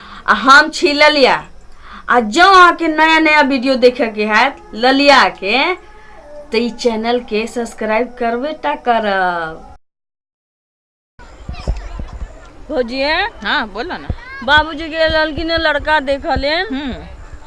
आ हम छी ललिया आ जँ अहाँके नया नया वीडियो देखयके हैत ललियाके तऽ ई चैनलके सब्सक्राइब करबे टा करब भौजी हाँ बोलो ना बाबूजी गेल रहलखिन लड़का देखऽ लेल हम्म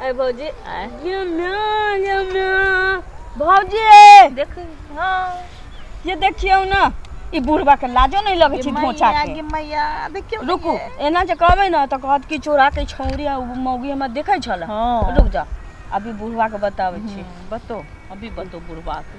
अरे भौजी आय। ये माँ ये माँ भौजी देख हाँ ये देखियौ ने ई बुढ़बा के लाजो नहीं लगे छै धोचा मैया के गे मैया देखियो ने रुकू ये। एना जे कहबै ने तऽ कहत कि चोरा के छौरी आ मौगी हमरा देखै छल हाँ। रुक जा अभी बुढ़वा के बताबै छी हम्म, बतो अभी बतो बुढ़वा के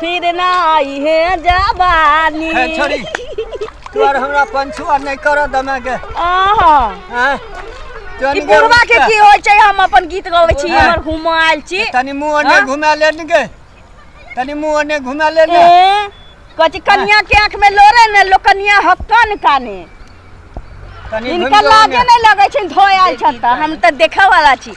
फिर ना आई है जवानी है छोड़ी तू आर हमरा पंछुआ नहीं कर दमे के आहा हैं ई बुढ़वा के की होय छै हम अपन गीत गाबै छी हमर हुमाल छी तनी मुंह ने घुमा ले ने के तनी मुंह ने घुमा ले ने कथी कनिया के आंख में लोरे ने लो कनिया हक्कन काने तनी इनका लागे नहीं लगे छै धोयल छत हम त देखे वाला छी